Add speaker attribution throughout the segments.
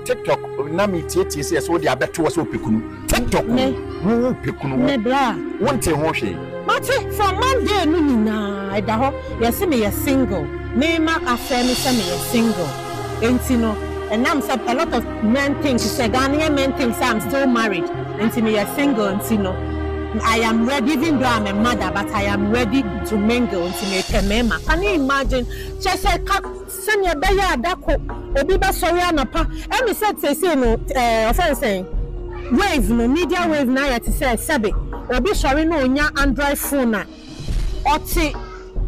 Speaker 1: tiktok na mi tietie sɛ ɛsɛ wode abɛto wɔ sɛ ɔpɛ kunu tiktok wo wo pɛ kunu wo wo
Speaker 2: nte ho hwee
Speaker 1: mate from
Speaker 2: monday no nyinaa ɛda hɔ yɛse meyɛ single mema afɛ me sɛ meyɛ single enti no ɛnam sɛ a lot of men think sɛ ghanaian men think sɛ i'm still married enti meyɛ single enti no I am ready, even though I'm a mother, but I am ready to mingle. Can you imagine? Just a Sɛnea ɛbɛyɛ a da ko obi bɛsɔre anɔpa ɛne sɛ seesei no ɛɛ wɔfrɛ no sɛn wave no media wave no ayɛ te sɛ sɛbe obi sɔre na ɔnya android phone a ɔte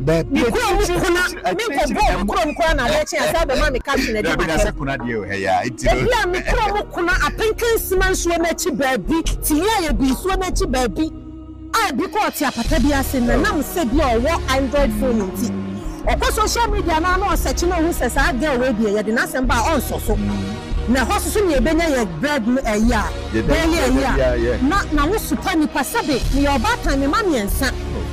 Speaker 2: Dabi ne kurom akyiri kuna
Speaker 1: akyiri akyiri menkɔ
Speaker 2: akyiri bɔɔ me ɛm kurom koraa na adeɛ kye a sɛ bɛma me caption adi Dabi na m'atɛm. sɛ kuna deɛ o hɛ yaa nti
Speaker 1: no. Ebia me kurom
Speaker 2: kuna Apenkansima nsuo no akyi baabi, Tihiaye Bi nsuo no akyi baabi. a bi kɔ ɔte apata bi ase na nam sɛ bi a ɔwɔ Android phone nti ɔkɔ social media no a na ɔsearch na ohu sɛ saa girl wei deɛ yɛde n'asɛm ba a ɔnsɔ so na ɛhɔ so so nea ebenya yɛ bread no ɛyɛ a daily ɛyɛ a na na wo supa nipa sɛbe meyɛ ɔbaatan me mma mmiɛnsa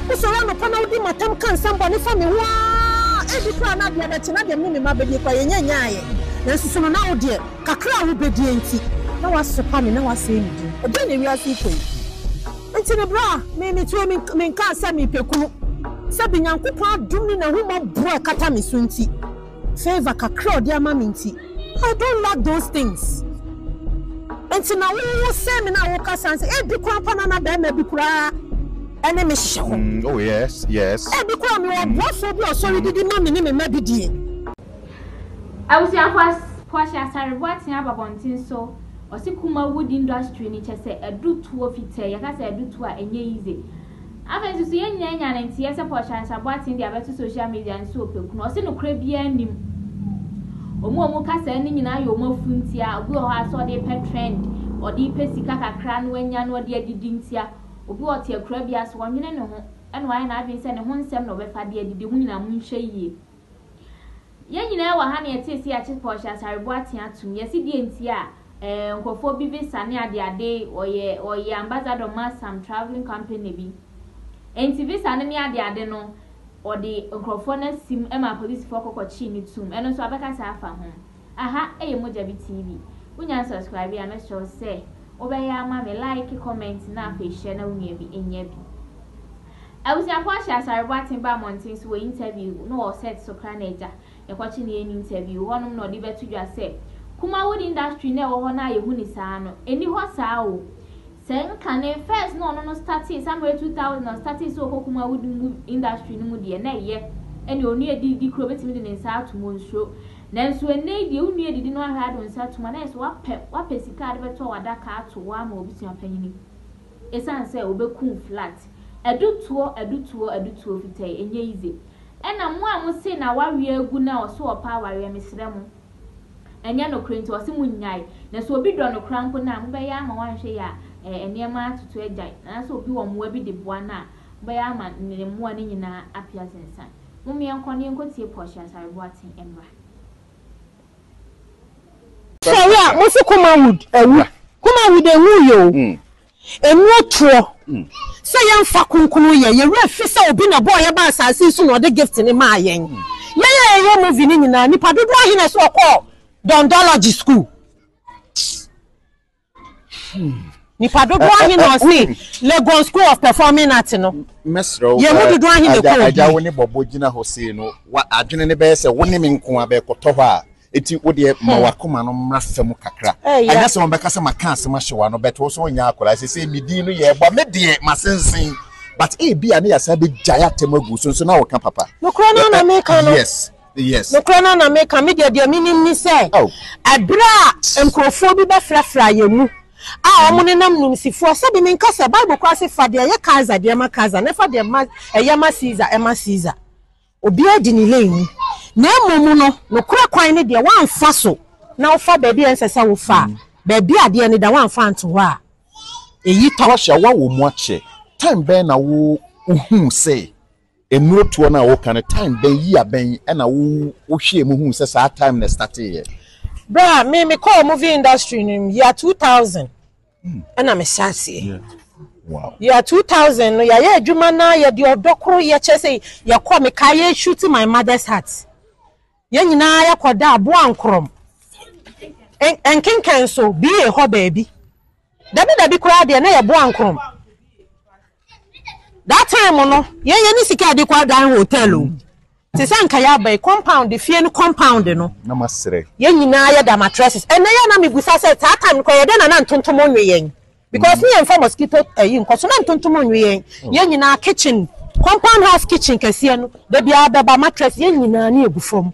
Speaker 2: wo sɔre anɔpa na wodi matam ka nsɛm bɔne fa me ho aa ebi koraa na adeɛ bɛkye na deɛ me ne me mma bɛdie koraa yɛnya nyaayɛ nanso so no na wo deɛ Kakra a wobedie nti na wɔasopa me na wɔasɛe me din. Ɛdeɛn na wiase yi kɔ yi? Nti no berɛ a me metoe me me nka asɛm mepɛ kunu. Sɛbe Nyankopɔn adom ne n'ahummɔborɔ a ɛkata me so nti, favour kakra a ɔde ama me nti, I don't lack those things. Nti na wo wo sɛe me na wokasa nse ebi koraa mpo na na barima bi koraa ɛne me hyehyɛ hɔ. Mm oh
Speaker 1: yes yes. Ebi koraa mewɔ
Speaker 2: ɔboafoɔ bi a ɔsɔre didi ma me ne me mma bi die.
Speaker 3: Abusuafo Kwashe Asare Boateng aba bɔnten so ɔse Kuma wood industry no kyɛsɛ adu tuo fitɛɛ yɛka sɛ adu tuo a ɛnyɛ yize Afei nso so yɛn nyinaa anya ne nteyɛ sɛ Pɔshansa Boateng de abɛto social media no so ɔpɛ kunu ɔse nokorɛ biara nnim Ɔmo a ɔmo kasaɛ no nyinaa yɛ ɔmo afu ntia obi wɔ hɔ ara sɛ ɔde repɛ trend ɔde repɛ sika kakra no anya no ɔde adidi ntia obi ɔte akuraa biara so ɔnwene ne ho ɛna wayɛ n'adwene sɛ ne ho nsɛm na ɔbɛfa de adidi ho nyinaa monhwɛ yie. Yɛn nyinaa wɔ ha na yɛtee se yɛakye Portia Asarebo atea atom. Yɛse deɛ nti a eh nkurɔfoɔ bi visa ne ade ade, ɔyɛ ɔyɛ ambassador ma some travelling company bi. Enti visa no ne ade ade no ɔde nkurɔfoɔ no asim ma apolisifoɔ kɔ kɔkyee no toom. Ɛno nso abɛkasa afa ho. Aha yɛ Mogyabi TV. Wonya nsubscribe a mɛsrɛ wo sɛ wobɛyɛ ama me, like, comment na afei hyɛ na wo nua bi nyɛ bi. Abusuafo ahyɛ Asare Boateng ba mmɔnten so wɔ interview no wɔ set so kra na agya yɛkɔkye no yɛ no interview hɔnom na ɔde bɛto dwa sɛ Kumawood industry no a ɛwɔ hɔ no a yɛhu no saa no ɛni hɔ saa o. Sɛ nka ne first na ɔno no startee somewhere two thousand na ɔstartee sɛ ɔkɔ kum awudi mu industry no mu deɛ na ɛyɛ ɛne onua adididi koraa ɔbɛtumi de ne nsa atom ɔnsuro nanso ɛnnɛ yi deɛ onua adidi no ahwɛ ade ɔnsa tum a na ayɛ sɛ wapɛ wapɛ sika a ɔde bɛtɔ adaka ato hɔ ama ɔbusua panyini ɛsiane sɛ ɔbɛkum flat adutoɔ adutoɔ adutoɔ fitɛɛ ɛnyɛ easy ɛna mo a mo se na wareɛ agu na ɔso ɔpɛ awareɛ mesrɛ mo Ɛnyɛ nokore nti ɔse mo nyae na sɛ obi dɔ no kora mpo no a mobɛyɛ ama wanhwɛ yɛ a nneɛma atoto agyae na sɛ obi wɔ mmoa bi de boa no a mobɛyɛ ama ne mmoa no nyinaa apia sensan mom yɛnkɔ na yɛnkɔtie Portia Asare Boateng mmra.
Speaker 2: Sɛ wo a, mo se Kumawood awu. Kumawood enwuui o. Ɛnyɛ toɔ sɛ yɛmfa kronkron yɛ. Yɛn werɛ fi sɛ obi na ɔbɔɔ yɛn baa asase yi so na ɔde gift no maa yɛn. Yɛn a yɛyɛ movie no nyinaa, nnipa dodoɔ ahe na ɛsɛ wɔkɔɔ Dondology school? Nnipa dodoɔ ahe na ɔse Legon School of Performing Arts no? Mɛsrɛ wo, Yɛn mu
Speaker 1: dodoɔ ahe na
Speaker 2: ɛkɔɔ agya, agya wo bi? ne bɔbɔ gyina
Speaker 1: hɔ sei no, wa, adwene no bɛyɛ sɛ wo ne me nko ara bɛkɔtɔ hɔ a, Enti wo deɛ ma w'akoma no mmra fam kakra. Ɛnyɛ sɛ wɔbɛka sɛ maka asɛm ahyɛ w'ano but wo nso wonyɛ akwadaa. Seesei me din no yɛrebɔ. Me deɛ masensen but ebia na yɛasan abɛgyae atɛm agu so nso na woka papa. Nokorɛ no ara na meka
Speaker 2: no. Yes. Yes. Nokorɛ no
Speaker 1: ara na meka.
Speaker 2: Me deɛ deɛ menim ne sɛ ɛberɛ a nkorɔfoɔ bi bɛfrafraa yɛn mu a wɔnenam nimsifoɔ sɛdeɛ menka sɛ Bible koraa se fa deɛ ɛyɛ Kaesar deɛ ma Kaesar na fa deɛ ɛyɛ ma Caesar ma Caesar. Obiara di ne lane mu, na mmom no, nokorɛ kwan no deɛ woamfa so na wofa baabi a ɛnsɛ sɛ wofa a, baabi a adeɛ no da woamfa anto hɔ a, ɛyi tɔ. Wahyɛ wo awɔ mu akyɛ.
Speaker 1: Time bɛn na wo huu sɛ nnuro toɔ no a wo ka no time bɛn year bɛn ɛna wo wo hwɛɛ mu huu sɛ saa time na ɛstarteeɛ. Berɛ a me
Speaker 2: me kɔɔ movie industry no mu year two thousand ɛna me hyɛ aseɛ wow
Speaker 1: year
Speaker 2: 2000 no yɛayɛ adwuma na yɛde ɔdɔ koro yɛ kyerɛ sɛ yɛkɔ meka yɛ shoot my mother's heart yɛn nyinaa yɛkɔda aboa nkorɔm nkenkan so bie hɔ baabi dabi dabi koraa deɛ na yɛboa nkorɔm That time no, yɛn yɛn ne sika a yɛde kɔ adan hotel o. Te sɛ anka yɛaba yi, compound, fie no compound no. Na masrɛ. Yɛn
Speaker 1: nyinaa yɛda
Speaker 2: mattresses. Ɛnna yɛ a na mebisa sɛ, saa time no kora, yɛ dɛn na na ntontom nwe yɛn? Because ne yɛmfa mosquito ayi nkɔ so, na ntontom nwe yɛn. Yɛn nyinaa, kitchen, compound house kitchen kɛseɛ no, da biara bɛba, mattress, yɛn nyinaa ani agu fam.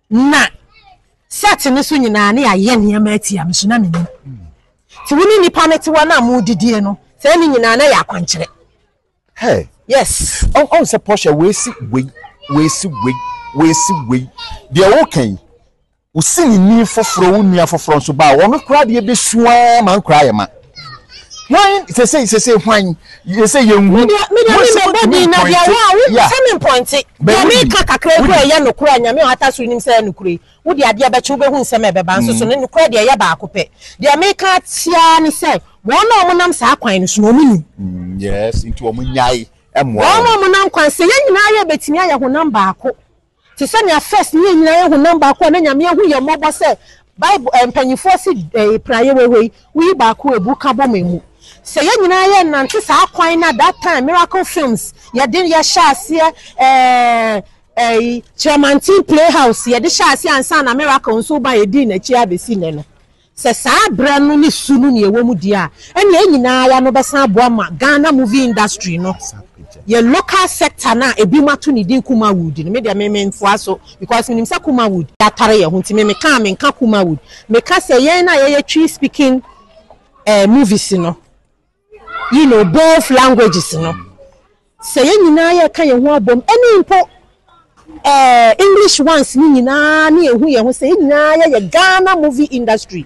Speaker 2: Na sɛte no so nyinaa na yɛayɛ nneɛma atia me so na mennim. Nti wo ne nnipa no te hɔ na modidie no, saa ne nyinaa na yɛ akwankyerɛ. Hey.
Speaker 1: Yes. Ɔn
Speaker 2: ɔn sɛ Portia
Speaker 1: wɔasi wei, wɔasi wei, wɔasi wei. Deɛ woka yi, wosi ne ni foforɔ, wo nua foforɔ nso baa wɔn koraa deɛ bɛsu ara ma nkoraa yɛ ma. hwan sese sese hwan yese yɛn hu. media media mi mɛ bɔ
Speaker 2: din na deɛ wa wo sɛ mi mpɔnte deɛ mi ka kakra egu ɛyɛ nukura nyame a ata so nim sɛ ɛyɛ nukura yi wo deɛ adeɛ bɛkye wo bɛ hu nsɛm ɛbɛba nso so ne nukura deɛ ɛyɛ baako pɛ deɛ mi ka tia ne sɛ wɔn a wɔn nam saa kwan no so na wɔn nim. yes nti
Speaker 1: wɔn nyae ɛmoa wɔn. wɔn a wɔn nam kwan sɛ
Speaker 2: yɛn nyinaa yɛ betumi ayɛ honam baako. Te sɛ nea First ne yɛn nyinaa yɛ honam baako a na Nyame ahu yɛn mmɔbɔ sɛ Bible eh, mpanyimfoɔ se eh, pira yɛ wɛwɛ yi, woyi baako abu ka bɔ ma emu. Sɛ yɛn nyinaa yɛ nnante saa kwan no a that time Miracle Films yɛde yɛhyɛ aseɛ eh, eh, Kyerɛmanten Playhouse yɛde hyɛ aseɛ ansa na Miracle nso ba yɛdii n'akyi abɛsi nnɛ no. Sɛ saa berɛ no ne su no na yɛwɔ mu deɛ a, ɛnna yɛn nyina ara no bɛsan aboa ma Ghana movie industry no, yɛn local sector no a ebinom ato ne din Kumawood no, me deɛ me mentoa so because menim sɛ Kumawood yɛatare yɛn ho nti me meka a menka Kumawood, meka sɛ yɛn a yɛyɛ Twi speaking movies no. You know both languages no sɛ yɛn nyinaa yɛka yɛn ho abom ɛne mpo ɛɛ eh, English ones ne nyinaa ne ehu yɛn ho sɛ yɛn nyinaa yɛyɛ Ghana movie industry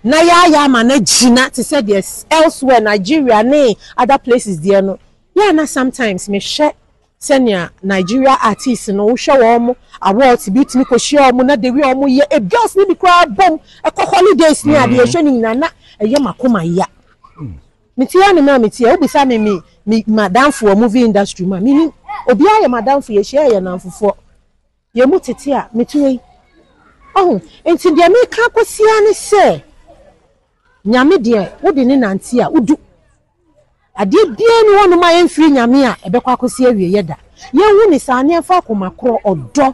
Speaker 2: na yɛayɛ ama no agyina te sɛ deɛ elsewhere Nigeria ne other places deɛ no yɛ na sometimes mehwɛ sɛnea Nigeria artists no wohwɛ wɔn awards bi tumi kɔ hyia wɔn na the way wɔn yɛ a girls no bi koraa bom ɛkɔ holidays ne adeɛ ɛhwɛ ne nyinaa na ɛyɛ makoma ya me ti ya ne maa me ti ya wobisa me me me madamfoɔ movie industry mu a me ni obiara yɛ madamfo yɛ hyia yɛ namfofoɔ yɛ mu tete a me ti wei ɔho nti deɛ me ka kɔ sia ne sɛ. Nyame deɛ wode no nante a wodu. Adeɛ biara nni hɔnom a ɛmfiri Nyame a ɛbɛkɔ akɔsi awieɛ da. Yɛnhu no saa na yɛmfa akoma korɔ, ɔdɔ,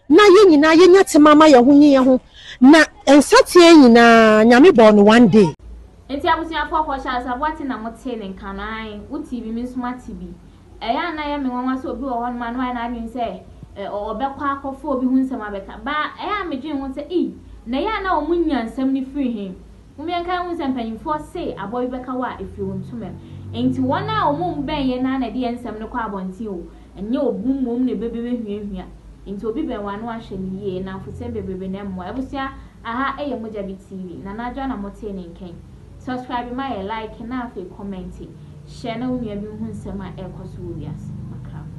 Speaker 2: na yɛn nyinaa yɛnya tema mma yɛn ho nye yɛn ho. Na nsateaa nyinaa Nyame bɔɔ no one day. Nti abusuafoɔ
Speaker 3: kɔ hyɛ asaboa te na mo te ne nka no ae wo te bi me nso ma te bi Ɛyɛ a na ɛyɛ me nwanwa sɛ obi wɔ hɔnom a na wayɛ n'adwene sɛ ɔbɛkɔ akɔfa obi ho nsɛm abɛka. Baa ɛyɛ a midwen ho sɛ, 'Ei, na ɛyɛ a na wɔnya nsɛm no firi he? Mom yɛnkae nhu sɛ mpanyimfoɔ se aboa bi bɛka wo a, efiri wo ntomam. Enti wɔn a wɔn bɛn yɛn no ara na ɛde yɛn nsɛm no kɔ abɔnten o, ɛnyɛ obu mmom na ɛbɛbehuahua. Enti obi bɛn wo a, na wahwɛ no yie. Nnamfosɛm bebrebe na ɛmmoa. Abusua, aha yɛ Mogyabi TV. Nana Adwoa na motee ne nka yi. Subscribe ma yɛ like na afei kɔmɛnte, hyɛ na wo nua bi nhu nsɛm a ɛrekɔ so wɔ wiase. Makrafo.